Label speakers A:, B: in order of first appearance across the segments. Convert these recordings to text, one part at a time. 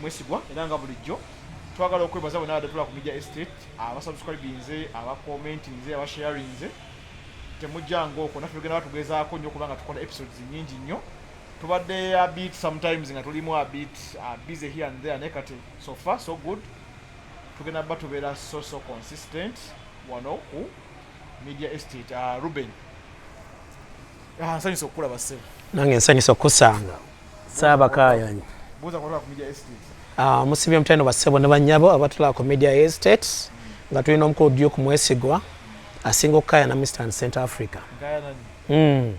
A: mwesigwa era nga bulijjo twagala okwebaza bona adatula ku media estate abasubscribinze abakomentinze abasharinze temujjanga okwo naffe tugenda batugezaako nnyo kubanga tukola episodes nyingi nnyo tubadde abit sometimes nga tulimu abit uh, busy here and there naye kati so far so good tugenda ba tubeera so so consistent wano ku media estate uh, ruben ah, nsanyusa okukulaba sebe nange nsanyusa
B: okukusanga Saabakaayanyi
A: ah, musibye mutendo
B: bassebo ne bannyabo abatulaba ku media estate nga tulina omukulu Duke Mwesigwa asinga okukaayana mu Eastern Central Africa.
A: Hmm.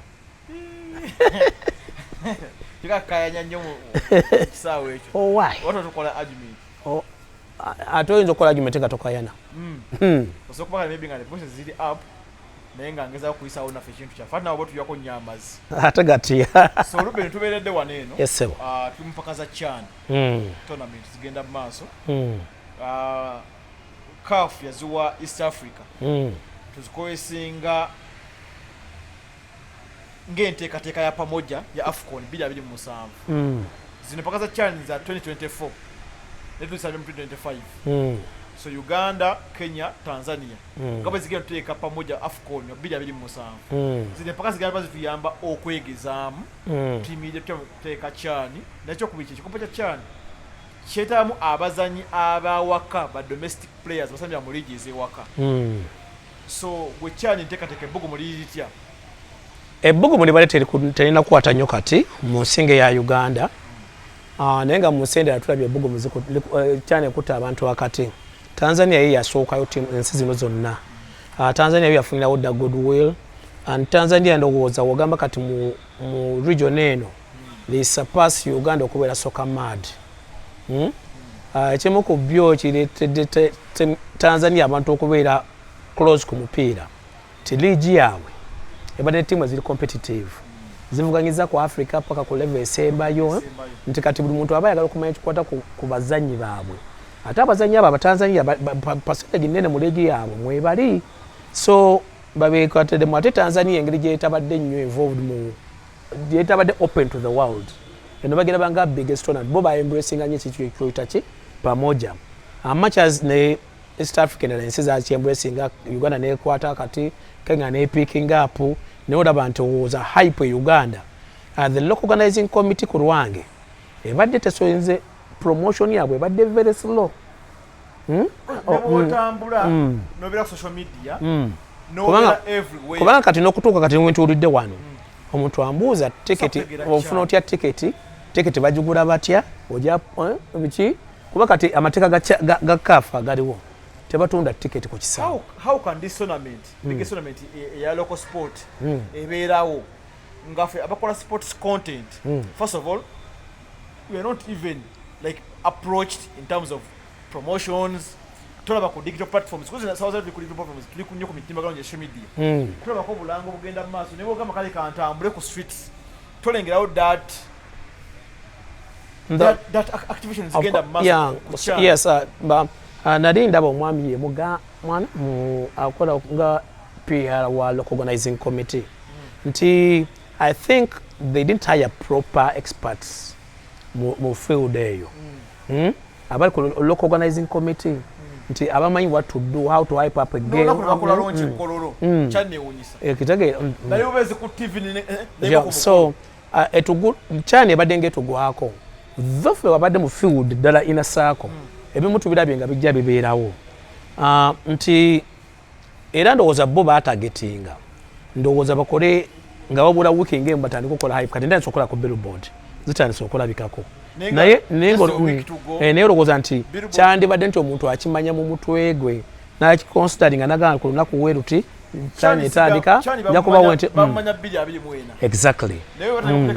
A: Oh, oh,
B: ate oyinza okukola argument nga tokayana
A: hmm. Hmm. naye nga ngezaako kuyisawo naffe ekintu kyaffe ate nawe oba tujako nnyo amazzi ate gati
B: so olubbe netubeeredde
A: wano eno esebo ah, tuli mupaka
B: za
A: chan hmm. tournament zigenda mu maaso hmm. ah, caf yaziwa east africa hmm. tuzikowesinga ng'enteekateeka ya pamoja ya afcon 2027 mm. zino paka za chan za 2024 netusabe mu 2025 mm. so uganda kenya tanzania mm. nga bwe zigenda tuteeka pamoja afcon 2027 mm. zino empaka zigenda ba zituyamba okwegezaamu mm. tiimu ija tuteeka chan nakyokubiri kyekikopo kya chan kyetaamu abazanyi abawaka ba domestic players basambira mu liigi ez'ewaka mm. So gwe kyani ntekateka ebbugumu liri litya?
B: Ebbugumu libadde terina kukwata nnyo kati mu nsinga eya Uganda ah, naye nga mu nsi endala tulabye ebbugumu eh, kyani ekutta abantu wakati. Tanzania ye yasookayo ensi zino zonna. Ah, Tanzania yo yafunirawo dda goodwill and Tanzania ndowooza wogamba kati mu region eno they surpass uganda okubeera soka mad hmm? ah, ekimu ku byo kiretedde tanzania abantu okubeera close ku mupiira ti liigi yaabwe ebadde tiimu eziri competitive zivuganyiza ku africa paka ku leve esembayo nti kati buli muntu aba ayagala okumanya ekikwata ku bazannyi baabwe ate abazannyi abo abatanzania pasentage nene mu liigi yaabwe mwebali so babekwatedemu ate tanzania engeri gyetabadde nnyo involved mu yetabadde open to the world eno bagenda banga biggest honor bo ba embracing anye kitu ekyoita ki pamoja amachas ne East African na ensi za embracing Uganda ne kwata kati Kenya ne picking up ne oda bantu was a hype e Uganda uh, the local organizing committee ku Rwange ebadde tesoinze promotion yabwe ebadde very slow hmm? oh, hmm.
A: otambula hmm. nobera social media kubanga kati nokutuuka kati
B: wentulidde wano omuntu ambuuza tiketi ofuna otya tiketi tiketi bagigula batya oja eh, biki kuba kati amateeka ga kafa galiwo tebatunda tiketi ku
A: kisaawe ebeerawo ngafe abakola sports content first of all we are not even like approached in terms of promotions tulaba ku digital platforms kuzi na sawaza ku digital platforms tuli kunyo ku mitimba gano social media mm. tulaba ko bulango bugenda maso nebo kama kale kantambule ku streets tolengera out that that, that activation is genda maso yeah, so, yes uh, ba
B: uh, nari ndaba omwami ye muga mwana mu akola nga PR wa local organizing committee mm. nti I think they didn't hire proper experts mu field eyo mm. hmm? abali ku local organizing committee mm. nti abamanyi what to do how to hype up a game hmm. ekitegeera
A: so
B: chani ebadde nga etugwako thofe wabadde mu field ddala inasaako hmm. ebimu tubirabye nga bijja bibeerawo ah, nti era ndowooza bo batagetinga ndowooza bakole nga wabula wiki ngemu batandika okukola hype kati ntandisa okukola ku billboard zitandisa okulabikako naye naye eh, olowooza nti kyandibadde nti omuntu akimanya mu mutwe gwe nakiconsidering anagamba ku lunaku weruti chani etandika nja kubawo nti mm. exactly mm.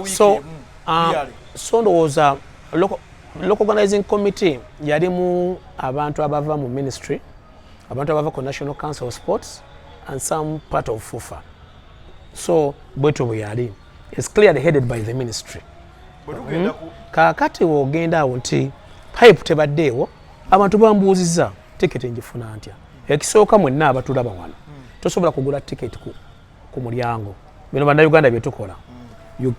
B: so um, so ndowooza local organizing committee yalimu abantu abava mu ministry abantu abava ku national council of sports and some part of fufa so bwetyo bwe yali is clearly headed by the ministry hmm? kaakati wogenda awo nti pipe tebaddeewo abantu bambuuziza tiketi njifuna ntya ekisooka mwenna abatulaba wano hmm. tosobola kugula tiketi ku ku mulyango bino bannayuganda bye tukola mm.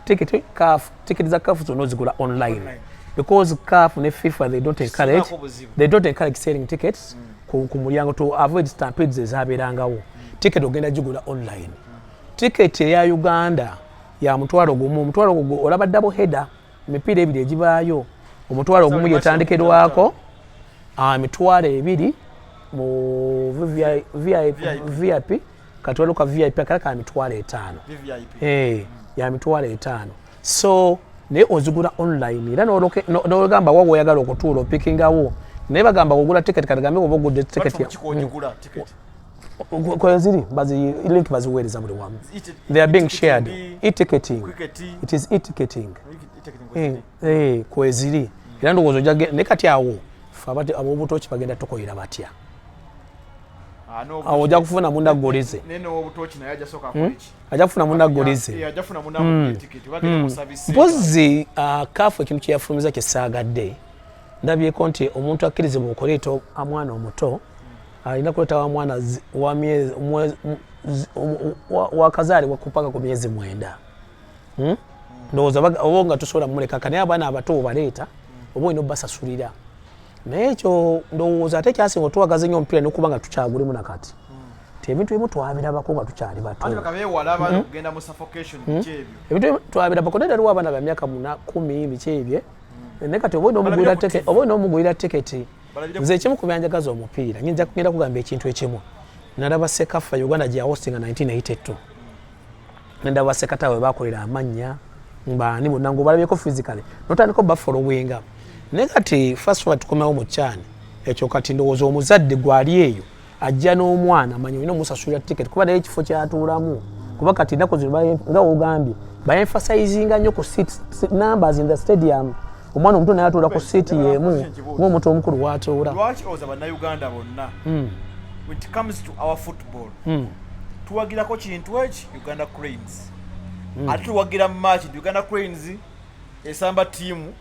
B: tiketi kafu tiketi za kafu zonna ozigula online because kafu ne fifa they don't encourage they don't encourage selling tickets mm. ku mulyango to avoid stampedes ezabeerangawo mm. tiketi ogenda gigula online tiketi eya uganda ya mutwalo gumu omutwalo gugu olaba double header emipiira ebiri egibaayo omutwalo ogumu gyetandikerwako ah, emitwalo ebiri mu vip katwalo ka vip akala ka mitwalo etaano eh, ya mitwalo etaano so naye ozigula online era nogamba wa woyagala okutuula opikingawo naye bagamba kugula tiketi kati gambe oba ogudde tiketi kweziri link baziweereza buli wamu they are being shared etiqueting it is etiqueting eh, eh, kweziri hmm. era ndowooza ojja ne kati awo fe abati ab'obutoki bagenda tukoyera batya ah, awo ojja kufuna munda golize hmm? ajja kufuna munda golize mpozi kafu ekintu kyeyafulumiza kyesaagadde ndabyeko nti omuntu akkirizibwa okuleeta amwana omuto alina kuleta wa mwana wakazaalibwa kupaka ku myezi mwenda hmm? ndowooza oba nga tusobola muleka kanaye abaana abato obaleeta oba olina obasasulira naye ekyo ndowooza ate kyasinga otwagaza nyo omupiira nokuba nga tukyagulimu nakati ti ebintu ebimu twabirabako nga tukyali bato hmm? hmm? ebintu twabirabako naye daliwo abaana bamyaka muna kumi biki ebye naye kati oba olina omugulira teketi nze ekimu ku byanjagaza omupiira nyinza kugenda kugamba ekintu ekimu nalaba sekafa uganda gye yahostinga 1982 nendaba sekata we bakolera amannya mbaani bonna ngaobalabyeko physically notandika obafolowinga naye kati first of all tukomewo mu kyani ekyo kati ndowooza omuzadde gwali eyo ajja n'omwana manyi olina omusasulira ticket kuba naye ekifo kyatuulamu kuba kati ennaku zino nga wogambye baemphasizinga nnyo ku seat numbers in the stadium omwana omuto naye atuula ku seat yemu ngaomuntu omukulu watuula lwaki oza bannayuganda
A: bonna hmm. when it comes to our football hmm. tuwagirako kintu eki uganda cranes hmm. ate tuwagira mu match nti uganda cranes esamba tiimu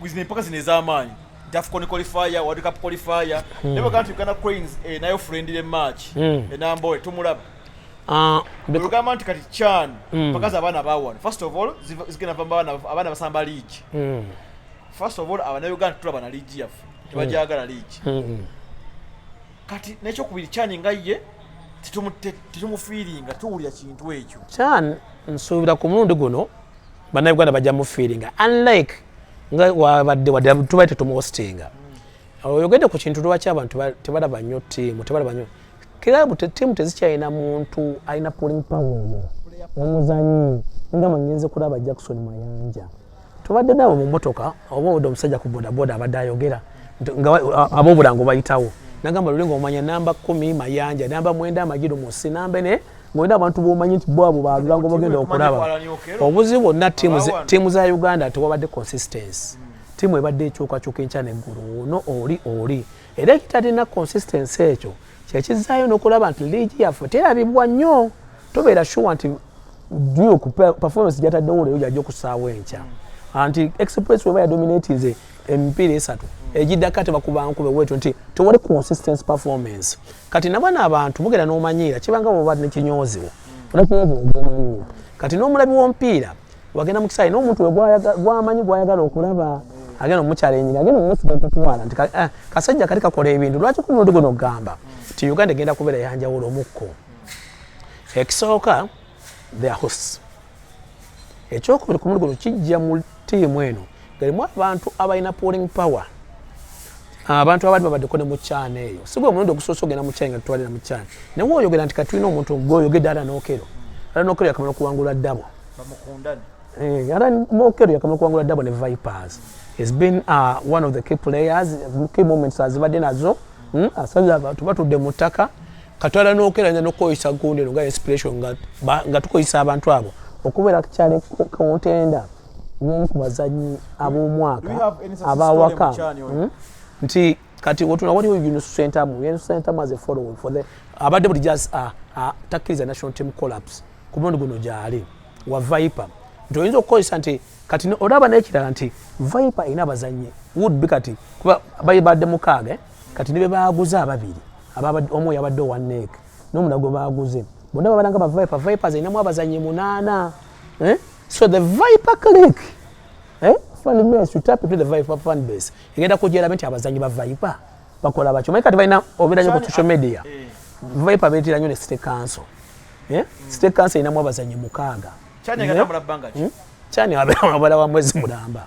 A: zino empaka zino ez'amaanyi dafcon qualifier world cup qualifier hmm. naye bagamba nti uganda cranes eh, nayo friendly match hmm. enamboe eh, tumulaba ah, olugamba nti kati chan hmm. pakazi abaana bawano first of all zigenda va abaana basamba leagi first of all abanauganda tulaba na leagi yaffe tebajagala leagi kati nekyokubiri chan nga ye tetumufiiringa tuwulira kintu ekyo chan
B: nsuubira ku mulundi guno bannayuganda bajja mufiiringa unlike nga wabadde wadde tubaye tetumuhostinga oyogedde ku kintu lwaki abantu tebalaba nnyo tiimu tebalaba nnyo kirabu tiimu tezikyalina muntu alina pulling power oyo omuzanyi nga mangenze kulaba jackson mayanja tubadde nabo mu motoka oba oda omusajja ku bodaboda abadde ayogera abobulango bayitawo nagamba lulinga omanya namba kumi mayanja namba mwenda amajiru musi namba ne ngolina abantu bomanyi nti bo abo balulango bagenda okulaba obuzibu bwonna tiimu za uganda tewabadde consistency tiimu ebadde ekyukakyuka enkya neggulu ono oli oli era ekitalina consistency ekyo kyekizaayo nokulaba nti liigi yaffe terabibwa nnyo tobeera shuwa nti duke performance gyataddewo leero gyajja okusaawo enkya anti express weba yadominatinze emipiira esatu egiddako ate bakubankube wetyo nti tewali consistency performance mm. kati nabana abantu mugera nomanyiira kibanga woba nekinyooziwo onakinyooziwo kati nomulabi wompiira wagenda mukisaayi nomuntu wegwamanyi gwayagala okulaba agenda omukyala enyini agenda omusiga kutwala nti eh, kasajja kati kakola ebintu lwaki kumundi guno ogamba nti uganda egenda kubeera yanjawulo mukko ekisooka their hosts ekyokubiri ku muligo kijja mu tiimu eno galimu abantu abalina polling power abantu abali babaddeko ne mukyana eyo sigwe omulundi ogusoose ogenda mukyana nga tutwalira mukyana naye oyogera nti katulina omuntu gwoyogedde ala nokero ala nokero yakamala okuwangula ddabo eh, ala nokero yakamala okuwangula ddabo ne vipers has been uh, one of the key players key moments azibadde nazo hmm, asaza abantu batudde mu ttaka katwala nokeranya nokukozesa gundi eno nga inspiration nga tukozesa abantu abo okubeera kukyali kuntenda yomu ku bazanyi ab'omwaka abawaka hmm? nti kati otuna waliwo unisentamu unisentamu as a following for the abadde buli jaz ah, ah, takkiriza national team collapse ku mulundi guno gyali wa viper nti oyinza okukozesa nti kati olaba nekirala nti viper erina abazanyi wood be kati kuba baibadde mukaaga eh? kati nibe baaguza ababiri omu yabadde owa nek nomuna gwe baguze bonna babalanga ba viper vipers erinamu abazanyi munaana eh? so the viper click eh? egenda kujerabe nti abazanyi ba viper bakola bakyo manyi kati balina obeera nyo ku social media eh. viper beetera nyo ne state council eh? hmm. state council erinamu abazanyi mukaaga
A: kyani hmm? abeera wabala
B: wa mwezi mulamba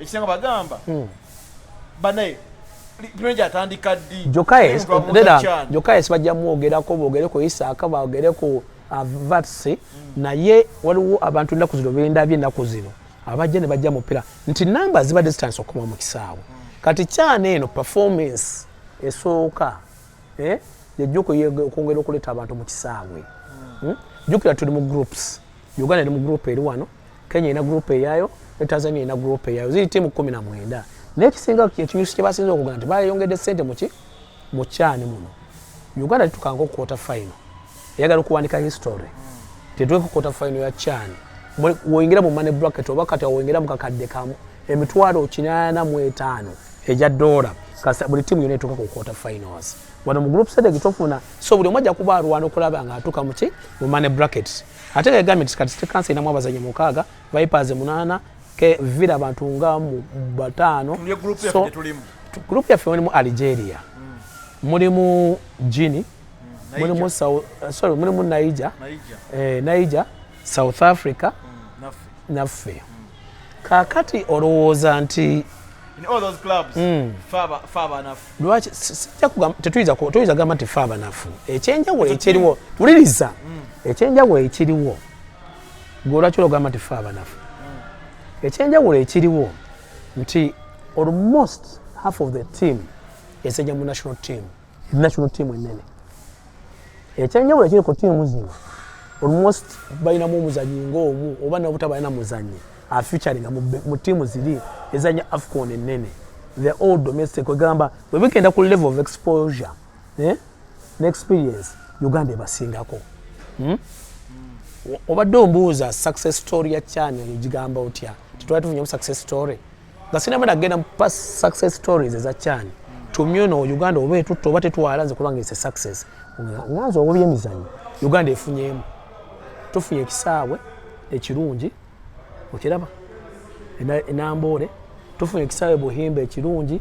B: ekisinga
A: bagamba hmm. banaye pulezidenti atandika ddi jokaes bajja mwogerako boogere ku isaaka boogere ku uh, vatsi hmm. naye waliwo abantu ennaku zino bendabye ennaku zino abajja ne bajja mupira nti namba zibadde zitandisa okukoma mu kisaawe hmm. kati kyana eno performance esooka eh, yajja okwongera okuleeta abantu mu kisaawe jukira tuli mu groups uganda eri mu group eri wano kenya erina gurupu eyayo ne tanzania erina gurupu eyayo ziri tiimu kumi na mwenda naye ekisinga ekinyusi kye basinza okugana nti bayongedde sente muki mu kyani muno uganda litukanga okukwota fayino eyagala okuwandika history tetuleka okukwota fayino ya kyani woyingira mu mane bracket oba kati awoyingira mu kakadde kamu emitwalo kinaana mu etaano egya doola kasa buli tiimu yona etuuka ku quarter finals wano mu group stage gitofuna so buli omu ajja kuba alwana okulaba nga atuuka muki mu money brackets ate nga yagambye nti kati state council erinamu abazanyi mukaaga vipers munaana ke villa bantu nga mu bataano group yaffe mulimu algeria hmm. mulimu gini hmm, mulimu sorry mulimu niger niger eh, south africa hmm, naffe kakati olowooza nti hmm. lwaki
B: tetuyinza gamba nti fe abanafu ekyenjawulo ekiriwo wuliriza hmm. ekyenjawulo ekiriwo gwe olwaki ologamba nti fe abanafu hmm. ekyenjawulo ekiriwo nti almost half of the team eseja mu national team national team enene ekyenjawulo ekiri ku tiimu zino almost balinamu omuzanyi ngaomu oba nabutabalina muzanyi afeaturing mu tiimu ziri ezanya afcon enene the all domestic egamba webigenda ku level of exposure eh? ne experience uganda ebasingako hmm? obadde ombuuza success story ya chani egigamba otya tetwali tufunyamu success story nga sinaba nagenda mu past success stories eza kyani tumyono uganda oba etutta oba tetwala nze kubanga ese success nganze oba byemizanyo uganda efunyemu tufunye ekisaawe ekirungi okiraba enamboole tufunye ekisaawe buhimba ekirungi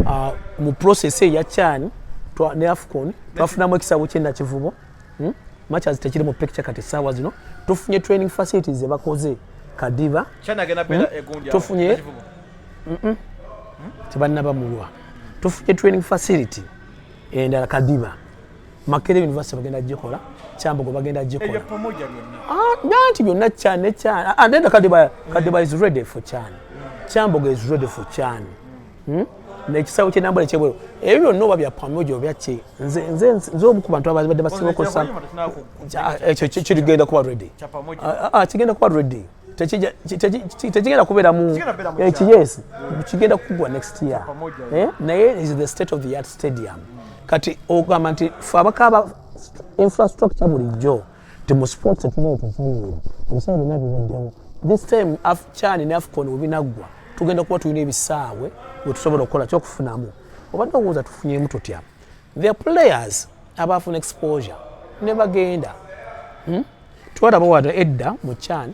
B: ah, mu process eya kyani ne afcon twafunamu ekisaawe kyenakivubo hmm? matches tekiri mu picture kati sawa zino tufunye training facilities ze bakoze kadiba chana gena bela hmm? egundia tufunye mm -mm. tibanna bamulwa tufunye training facility endala kadiba makere university bagenda gikola kyambogo bagenda gikola nanti ah, byonna chan ne chan and ah, then kadiba kadiba is ready for chan kyambogo is ready for chan hmm? nekisawo kyenambula ekyebweru ebyo byonna oba byapamoja obyaki nze omu ku bantu ababadde basinga okozesa ekyo kirigenda kuba redi ah, ah, kigenda kuba redi tekigenda kubeeramu ekiyesi eh, kigenda kugwa next year eh? naye is the state of the art stadium kati ogamba nti fe abakaaba infrastructure bulijjo nti mu sports etulina etufaanira ebiseera byonna bibaddewo this time afchan ne afcon webinaggwa tugenda kuba tulina ebisaawe wetusobola okukola kyokufunamu obadde owooza tufunyemu tutya the players abaafuna exposure ne bagenda hmm? twalaba wano edda mu chan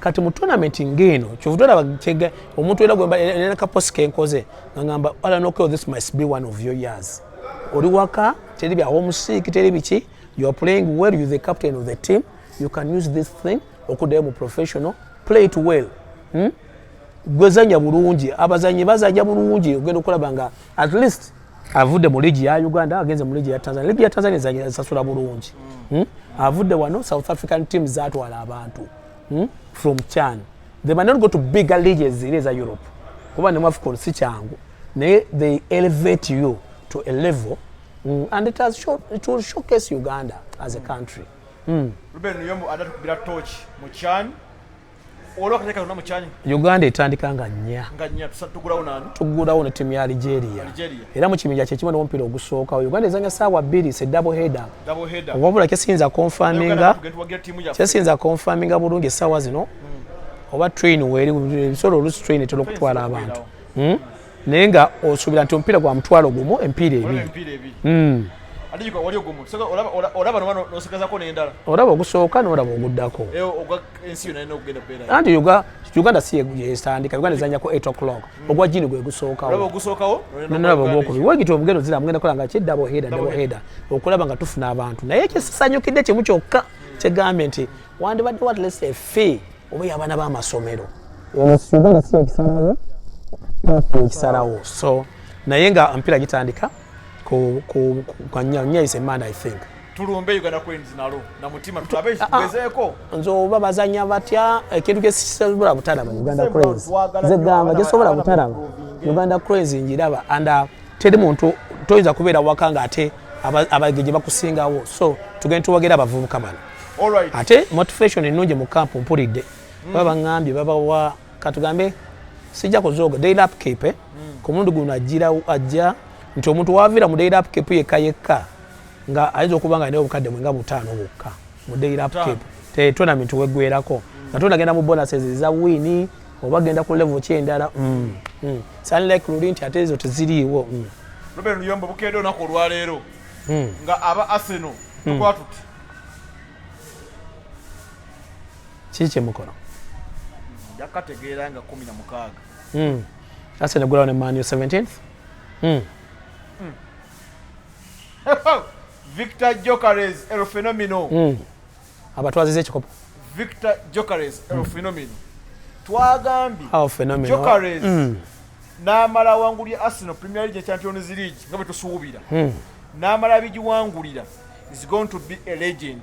B: kati mu tournament ng'eno kyovuta olaba kyega omuntu era gwena kaposi kenkoze nga ngamba ala nokeo this must be one of your years oli waka teri bya homusiiki teri biki you are playing well you the captain of the team you can use this thing okuddayo mu professional play it well hmm? gwezanya bulungi abazanyi bazanya bulungi ogenda okulaba nga at least avudde mu ligi ya uganda agenze mu ligi ya tanzania ligi ya tanzania esasula bulungi hmm? avudde wano south african team zatwala abantu hmm? from chan they might not go to bigger leages ziri eza europe kuba ne mwafcon si kyangu naye they elevate you to a level mm, and it, has show, it will showcase uganda as a country mm. ruben
A: yombo adatukubira torch mu chan uganda etandika nga
B: nnya
A: tugulawo ne timu ya
B: algeria era mu kibinja kyekimu nomupiira ogusookawo uganda ezanya saawa bbiri se double headup wabula kyesiyinza konfaminga kyesiyinza konfaminga bulungi essaawa zino hmm. oba train weri ebisobola olusi train etera okutwala abantu hmm? naye nga osuubira nti omupiira gwa mutwalo gumu empiira ebiri hmm. olaba ogusooka nolaba oguddako eh, ensi yona ina okugenda bera anti yuga uganda si yesandika uganda zanya ko 8 o'clock mm. ogwa jini gwe gusooka wo gusooka wo nana babo ko wo gito obugendo zira mugenda kola nga chedda bo heda dabo heda okulaba nga tufuna abantu naye kye sanyo kide kye muchoka mm. kye garment wandi bad what let's say fee obo yabana ba masomero ono suga na siya kisarawo papo kisarawo so naye nga mpira gitandika ko ko kwa nya nya is a man i think tulumbe Uganda Cranes
A: nalo na mutima tulabe ah, ah. tugezeeko nze oba bazanya
B: batya ekintu eh, kyesobola butalaba Uganda Cranes nze gamba kyesobola butalaba Uganda Cranes njiraba and uh, teri muntu toyinza kubeera waka nga ate abageje bakusingawo so tugenda tuwagira abavubuka bano ate
A: motivation
B: ennungi mu camp mpulidde mm. baba baŋambye babawa katugambe sijja kuzooga daily upkeep eh? mm. ku mulundi guno ajja nti omuntu waviira mu daily upkeep yekka yekka nga ayinza okuba nga alina obukadde mwe nga butaano bwokka mu daily upkeep tetonament weggwerako nga tonagenda mu bonuses eza wiini oba genda ku level ki endala mm. mm. sunlike luli nti ate ezo teziriiwo mm. ruben luyombo
A: bukedde olunaku olwaleero nga aba aseno tukwatuti
B: kiki kyemukono
A: yakategeera nga kumi na mukaaga aseno
B: gulawo ne manu 17th
A: victor jokares el fenomino mm. abatwaziza
B: ekikopo victor
A: jokares el mm. fenomino twagambye jokares
B: mm.
A: n'amala awangulira arsenal premier league champions league nga bwe tusuubira mm. n'amala abigiwangulira is going to be a legend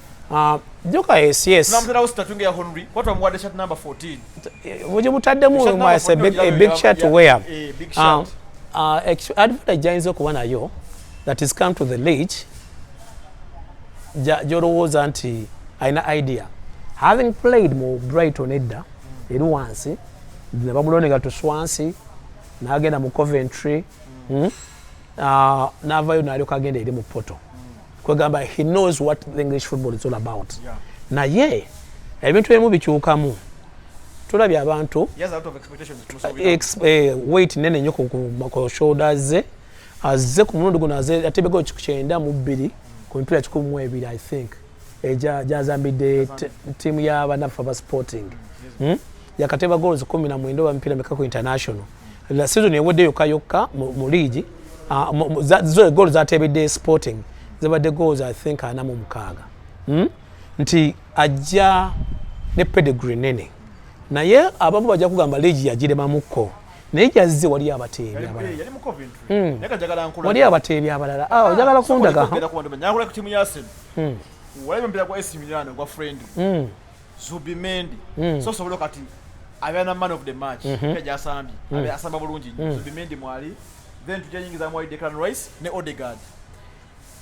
B: Ah, joka yes yes namuterawo sitatunga ya honry
A: kwatu amuwadde chat number 14 buli butaddemu
B: a big, a big chat to wear a big ah, chat uh, uh, advantage jayinza okuba nayo that is come to the league gyolowooza nti alina idea having played mu brighton edda eri wansi nebamulonega tuswansi nagenda mu coventry hmm? uh, navayo nalyoka agenda eri mu poto kwegamba he knows what the english football is all about yeah. naye ebintu ebimu bikyukamu tulabye abantu eh, wait nene nyo ku shoulders ze azze ku mulundi guno aze atebegaokyenda mu bbiri ku mipiira kikumi mu ebiri i think gyazambidde ttiimu ya banaffe aba sporting hmm? yakateba goals kumi na mwenda oba mipiira meka ku international la season ewedde yokka yokka mu liigi ah, zo goal zatebedde sporting zibadde goals i think ana mu mukaaga hmm? nti ajja ne pedigree nene naye abamu bajja kugamba liigi yagiremamukko naye jazze wali abateebi abalala
A: wali abateebi abalala
B: ah, ojagala kundaga
A: mm. walaba omupiira gwa ac milano gwa friend mm. zubimendi mm. so osobola kati abeera na man of the match mm -hmm. gyasambye mm. asamba bulungi mm. zubimendi mwali then tujayingiza mwali declan rice ne odegard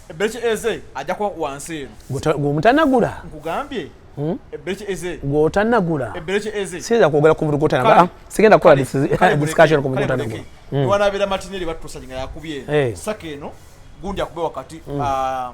A: ebbeki eze ajja kuba wansi eno gwemutanagula
B: nkugambye
A: hmm? ebbeki eze gwotanagula ebbeki
B: eze siyinza
A: kwogera ku buli gwotanagula
B: sigenda kukola discussion ku buli gwotanagula hmm. wanabeera matineri
A: battusa nga yakubye eh. saka eno gundi akube wakati hmm. ah,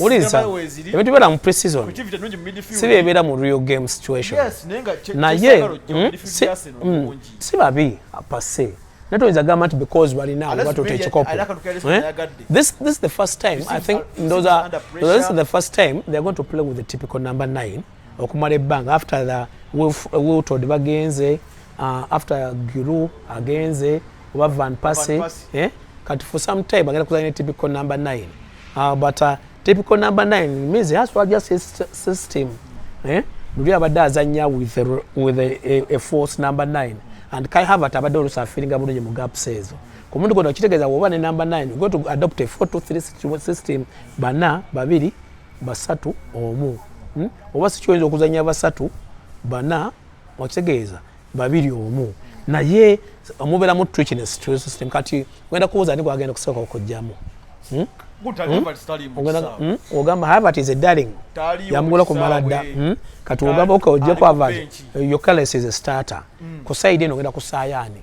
A: wuliriza ebintu
B: bibeera mu
A: preseason
B: si
A: byebeera mu real game
B: situation naye
A: hmm,
B: hmm, si babi apase naye toyinza gamba nti because balina batota ekikopo eh? this is the first time i think those are this is the first time they're going to play with the typical number 9 okumala ebbanga after the wiltod bagenze uh, after guru agenze oba van passe eh? kati for some time agenda kuzanya typical number 9 uh, but uh, typical number 9 means has to adjust his system eh? luli abadde azanya with, a, with a, a, a force number 9 and kai havat abadde olusa afiringa bulungi mu gaps ezo ku muntu gono kitegeeza woba ne number 9 go to adopt a 423 system bana babiri basatu omu hmm? oba sikyoyinza okuzanya basatu bana okitegeeza babiri omu naye omubeeramu trichiness to system kati ogenda kubuuza ani gwagenda okusooka okujjamu hmm? Hmm? ogamba havat is a darling yamugula kumala dda kati ogamba oka ojje ku havat your cales is a starter ku side eno ogenda kusaayaani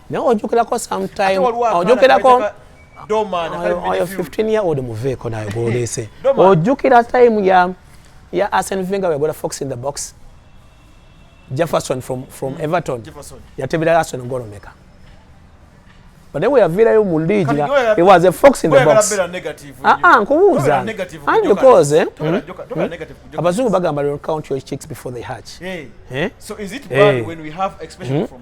B: naye ojokerako sometime ojokerako oyo
A: 15 year old
B: muveeko nayo gwolese ojukira time ya ya asen venga wegola fox in the box jefferson from, from mm. everton yatebera asen ngolomeka but then we have vira yo muligi na it was a fox in the box ah ah nkubuza and because eh hmm? Hmm? abazungu bagamba don't count your chicks before they hatch eh so is
A: it bad eh. when we have expression hmm? from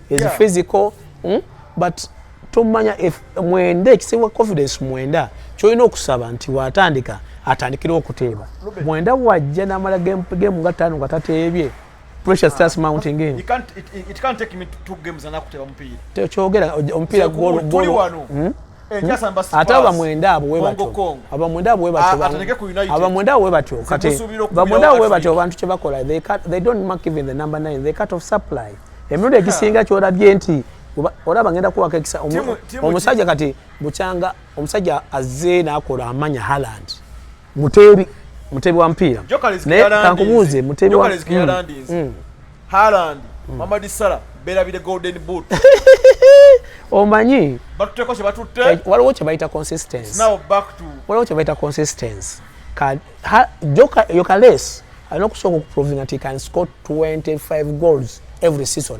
B: is yeah. physical hmm? but tomanya mwenda ekisiwa confidence mwenda kyolina okusaba nti watandika atandikira okuteeba mwenda wajja namala game game nga tano nga tateebye pressure ah, starts mounting in you can't it, it can't take
A: me to two games anakuteeba mupiira kyogera
B: omupiira golo golo ate abamwenda abo webatyo abamwenda abo webatyo abamwenda abo webatyo kati abamwenda abo webatyo abantu kye bakola they, cut, they don't mark even the number nine they cut off supply emirundi egisinga kyolabye nti olaba ngenda kuwaka ekisa omusajja kati bukyanga omusajja azze nakola amanya haland muteebi muteebi wa mupiira naye kankubuuze muteebi wa mm. Haaland
A: mm. Mamadi Salah berabire golden boot omanyi
B: batuteko kyebatutte
A: eh, waliwo kyebayita
B: consistency now back to
A: waliwo kyebayita consistency
B: ka ha, joka yokales alina okusooka okuprovinga nti can score 25 goals every season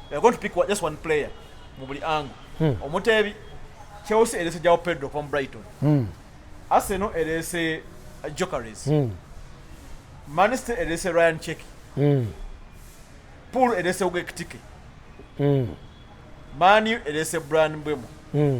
A: They are going to pick one, just one player mu buli ango hmm. omuteebi Chelsea erese Joao Pedro from Brighton hmm. Arsenal erese uh, Gyökeres hmm. Manchester erese Ryan Cheki hmm. Pool erese Ugo Ekitike hmm. Manu erese Bryan Mbeumo hmm.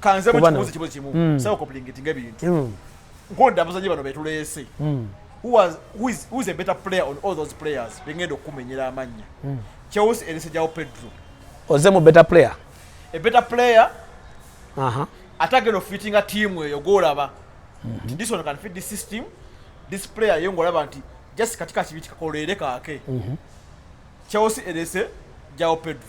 B: kanze mukibuzi
A: kibuzi kimu mm. sawa koplingetinga ebintu mm. nkonda abazanyi bano betuleese mm. who, has, who, is, who is a better player on all those players bengenda okumenyera amannya mm. chelsea erese jawo pedro oze mu better
B: player a better player
A: uh -huh. atagenda ofitinga tiimu eyo golaba mm -hmm. this one can fit this system this player ye ngolaba nti just katika kibi kikakoleere kaake mm -hmm. chelsea erese jawo pedro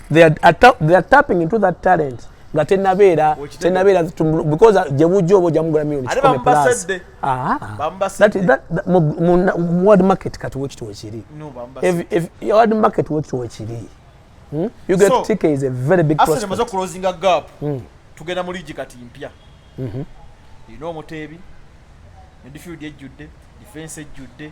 B: they are, atta, they are tapping into that talent nga tenabeera tenabeera because uh, gyebujja oba ojamugula million kikome plus ah, that, that, that, mu, mu, mu world market kati wekiti wekiri no, world market wekiti wekiri hmm? you get so, ticket is a very big prospect maze okulozinga gap
A: hmm. tugenda mu ligi kati mpya mm -hmm. you know omuteebi midfield ejjudde defense ejjudde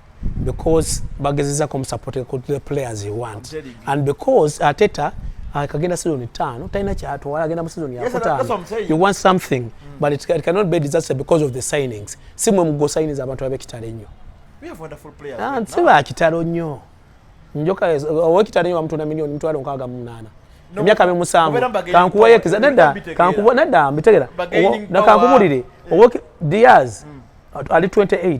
B: because bagezeza ko support ko the players you want and because ateta akagenda season tano taina cha atu wala agenda season ya kota you want something mm. but it, it cannot be disaster because of the signings simwe mgo signings abantu abe kitale nyo we have wonderful
A: players ah right siba kitalo
B: nyo njoka owe kitale nyo mtu na milioni mtu alonka aga mnana no, myaka me musamu kankuwa yekiza nenda kankuwa nenda mbitegera na kankubulire owe Diaz mm. ali 28 mm.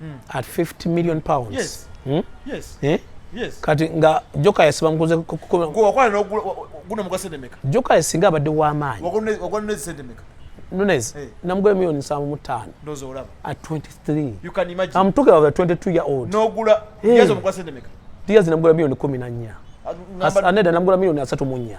B: mm. at 50 million pounds yes. Hmm? Yes.
A: Eh? Yes. kati nga
B: joka yasiba mukuze
A: joka yasinga abadde
B: wamaanyi
A: Nunez, hey.
B: namugula milioni nsanvu mu ttaano at 23
A: I'm
B: talking
A: about a 22 year
B: old nogula hey. yezo
A: mukwa sente meka diyazi namugula milioni
B: kumi na nnya aneda namugula milioni asatu mu nnya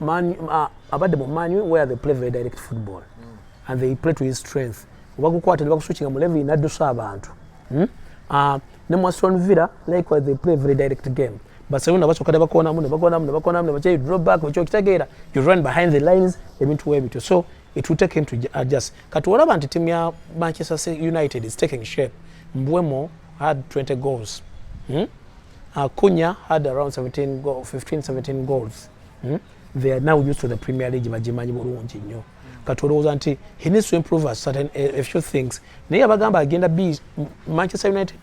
B: Man, uh, abadde mu man where they play very direct football mm. and they play to his strength obagukwata nebakuswikinga mulevi naddusa abantu hmm? uh, ne mu aston villa likewise they play very direct game barcelona basoka nebakonamu nebakonamu nebakonamu nebakyayi draw back ekyo okitegeera you run behind the lines ebintu webityo so it will take him to adjust kati olaba nti timu ya manchester united is taking shape mbwemo had 20 goals hmm? akunya had around 17 go, 15 17 goals hmm? they are now used to the premier league bagimanyi bulungi nnyo kati olowooza nti he needs to improve a certain a, a few things naye abagamba agenda b manchester united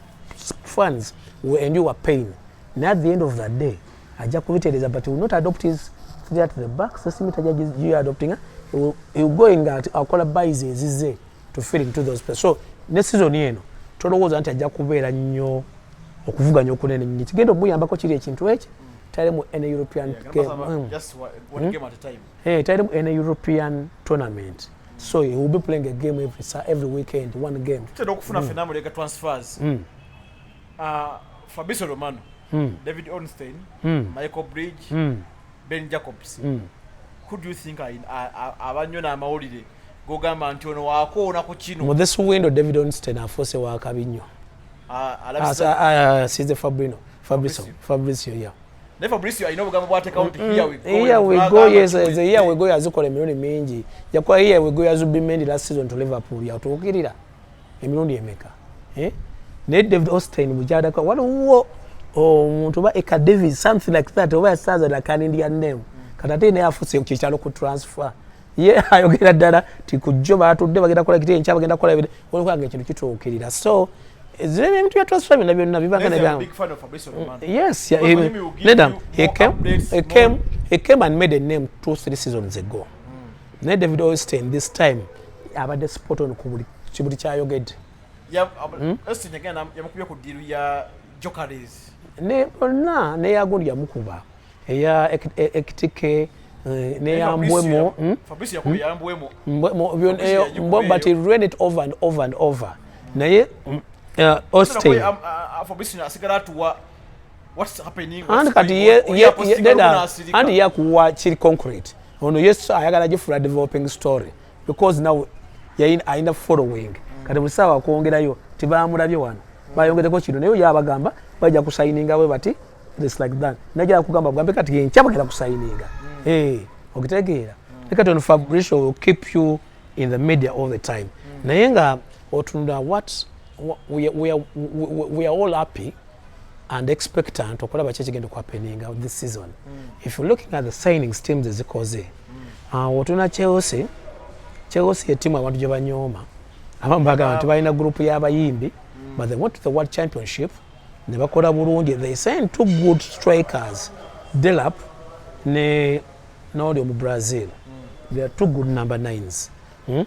B: fans will endure pain naye at the end of the day ajja kubitereeza but will not adopt his three at the back sesimi tajja adoptinga he will go in nga akola buys ezize to fit into those places so ne season eno tolowooza nti ajja kubeera nnyo okuvuganya okunene nnyo kigenda omuyambako kiri ekintu ekyo talemu an european hmm.
A: eh, talemu an
B: european tournament so he will be playing a game every, every weekend one game tutera okufuna hmm. fena mulega
A: transfers hmm. uh, fabrice romano david ornstein michael bridge ben jacobs mm. who do you think abannyo n'amawulire gogamba nti ono wakoona ku kino mu this window david
B: onsten afuuse wakabi nnyo size fabrino fabriso fabricio ya naye fabricio alina obugambo
A: bwatekawo nti mm, mm. here we go yes the
B: here we go yazikola emirundi mingi yakuba here we go yazubimendi last season to liverpool yatuukirira emirundi emeka eh? naye david austin mukyadaka waliwo omuntu oba eka davis something like that oba yasanza nakanindya name kati ate naye afuse kyekyalo ku transfer ye ayogera ddala ti kujjo batudde bagenda kola kiti enkya bagenda kola olwokanga ekintu kituukirira so zire ebintu bya transfer byonna byonna bibanga nebyange
A: yes
B: nedam he came, he came, he came and made a name two three seasons ago naye david olstein this time abadde spot on ku buli kibuli kyayogedde
A: hmm? yamukubye ku diru ya jokares ne bonna
B: neyagundi yamukuba eya ekitike eh, neyambwemo
A: hmm?
B: hmm? but he ran it over and over and over naye uh,
A: olstein uh, uh, what's happening and kati ye ye
B: deda and ya kuwa chiri concrete ono yesu ayagala jifura developing story because now yain aina following mm. kati musawa kuongerayo tibamurabye wano mm. bayongereko kino nayo yabagamba baja kusayininga we bati this like that najala kugamba bwambe kati ye nkyabagala kusayininga mm. hey eh, okitegeera mm. kati ono fabricio will keep you in the media all the time mm. naye nga otunula what we, we, we, we, we are all happy and expectant okulaba ki ekigenda okuhapeninga this season mm. if you're looking at the signings teams ezikoze mm. awo otuna chelsea chelsea yetimu abantu gye banyooma abamu bagamba nti balina gurupu y'abayimbi mm. but they went to the world championship ne bakola bulungi they send two good strikers delap ne n'oli omu brazil mm. they are two good number nines mm?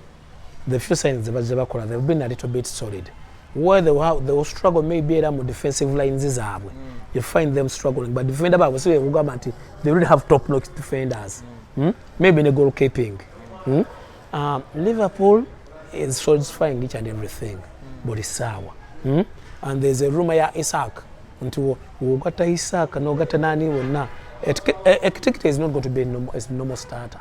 B: the few signs ze bazze bakola they've been a little bit solid where they will, they will struggle maybe era mu defensive lines zaabwe mm. you find them struggling but defender baabwe si bekugamba nti they really have top notch defenders mm. Mm? maybe ne goal keeping mm? um, liverpool is satisfying each and everything mm. buli saawa mm? and there's a rumor ya isaac nti wogatta isaac nogatta nani wonna ekitikiti is not going to be a normal starter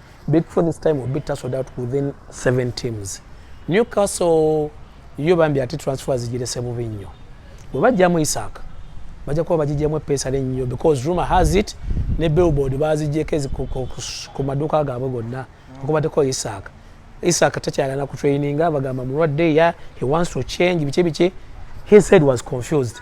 B: Big Four this time will beat us out within seven teams. Newcastle yo bambi ati transfer zijirese bubi nnyo. Bwe bajjamu Isaac bajja kuba bagijjamu eppeesa lennyo because rumor has it ne billboard bazijjeko ku maduuka gaabwe gonna okubateko Isaac. Isaac takyalana ku traininga bagamba mulwadde ya he wants to change biki biki he said was confused.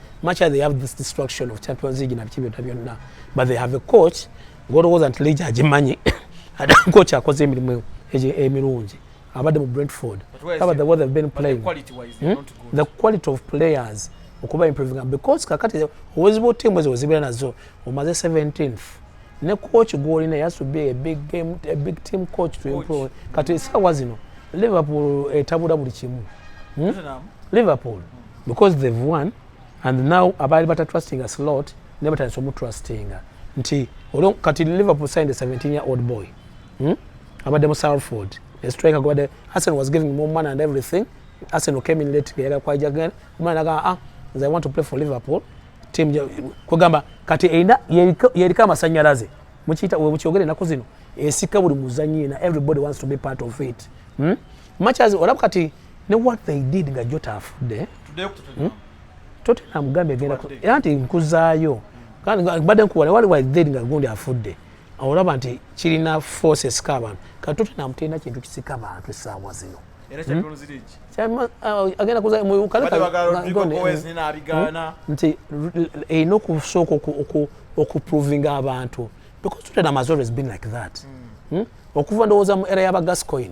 B: much they have this destruction of champions league na biki byonna byonna but they have a coach ng'olowooza nti league agimanyi ate coach akoze emirimu emirungi abadde mu brentford aba the way they've been playing the quality, wise, hmm? not good.
A: the quality of players
B: okuba improving because kakati owezibu tiimu ezo wezibeera nazo omaze 17th ne coach gwolina has to be a big game a big team coach to improve kati esaawa zino liverpool etabula buli kimu hmm? liverpool mm. because they've won and now abaali bata trustinga slot ne batandise omu trustinga nti olwo kati liverpool signed a 17 year old boy hmm? abadde mu salford a striker gwabadde arsenal was giving more money and everything arsenal came in late geyala kwaija genda omwana nagamba ah nze i want to play for liverpool team kwegamba kati erina yeriko amasanyalaze mukiyita webukyogere enaku zino esika buli muzanyi yena everybody wants to be part of it hmm? much as olaba kati ne what they did nga jota afudde hmm?
A: tottenham
B: gambye egenda era nti nkuzaayo mbadde nkuwala wali wa did nga gundi afudde olaba nti kirina force esika abantu kati tottenham terina kintu kisika abantu essaawa zino
A: hmm? uh, agenda kuzanti
B: erina okusooka okuprovinga abantu because tottenham has always been like that hmm. okuva ndowooza mu era yaba gascoin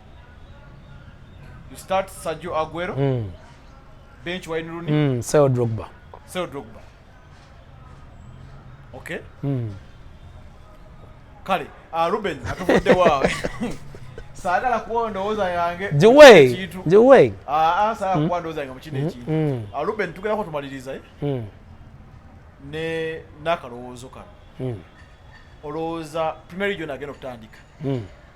A: You start Sergio Aguero. Mm. Bench Wayne Rooney. Mm. Sell Drogba.
B: Sell Drogba.
A: Okay. Mm. Kale, uh, Ruben, atuvudde wa. Sagala kuwa ndowooza yange. Jiwe. Jiwe.
B: Ah, ah, sagala mm.
A: kuwa ndowooza yange mukine ekintu. Hmm. Mm. Uh, Ruben, tugenda ko tumaliriza eh. Mm. Ne nakalowoozo kano. Mm. Olowooza Premier League yona agenda okutandika. Mm.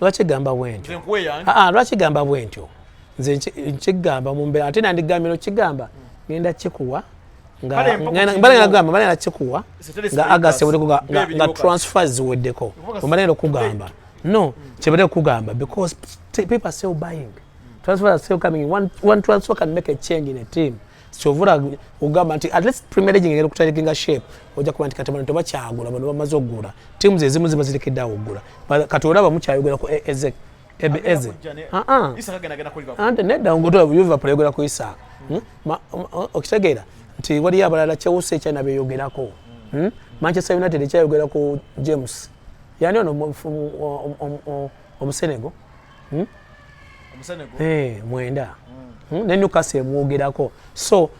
B: lwaki gamba bwentyo aa lwaki gamba bwentyo nze nkigamba mumbera ate nandigambye nokigamba ngenda kikuwa mbalagamba kikuwa nga agasewedeko nga transfer ziweddeko ombalagenda okugamba no kyebadde okugamba because people are still buying transfer are still coming one, one transfer can make a change in a team kyovula ogamba nti at least premier league ngeri kutalikinga shape oja kuba nti kati bano tebakyagula bano bamaze okugula timu zezimu ziba zirekedde awo okugula kati olaba mukyayogera ku e- ezek ebe eze ah, ah. ante nedda ngotola liverpool ayogera ku isaaka hmm? okitegeera nti waliyo abalala chelsea ekyana beyogerako hmm. hmm? manchester united ekyayogera ku james yani ono omusenego hmm? eh, mwenda hmm. Hmm? ne newcastle emwogerako so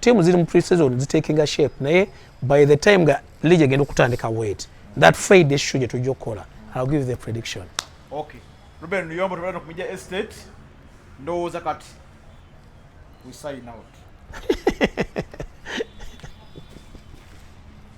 B: tiimu ziri mu preseason zitekinga shape naye by the time nga league egenda okutandika wet that friday show gye tujja okukola i'll give the prediction okay
A: ruben luyombo tubala nokumija estate ndowooza kati we sign out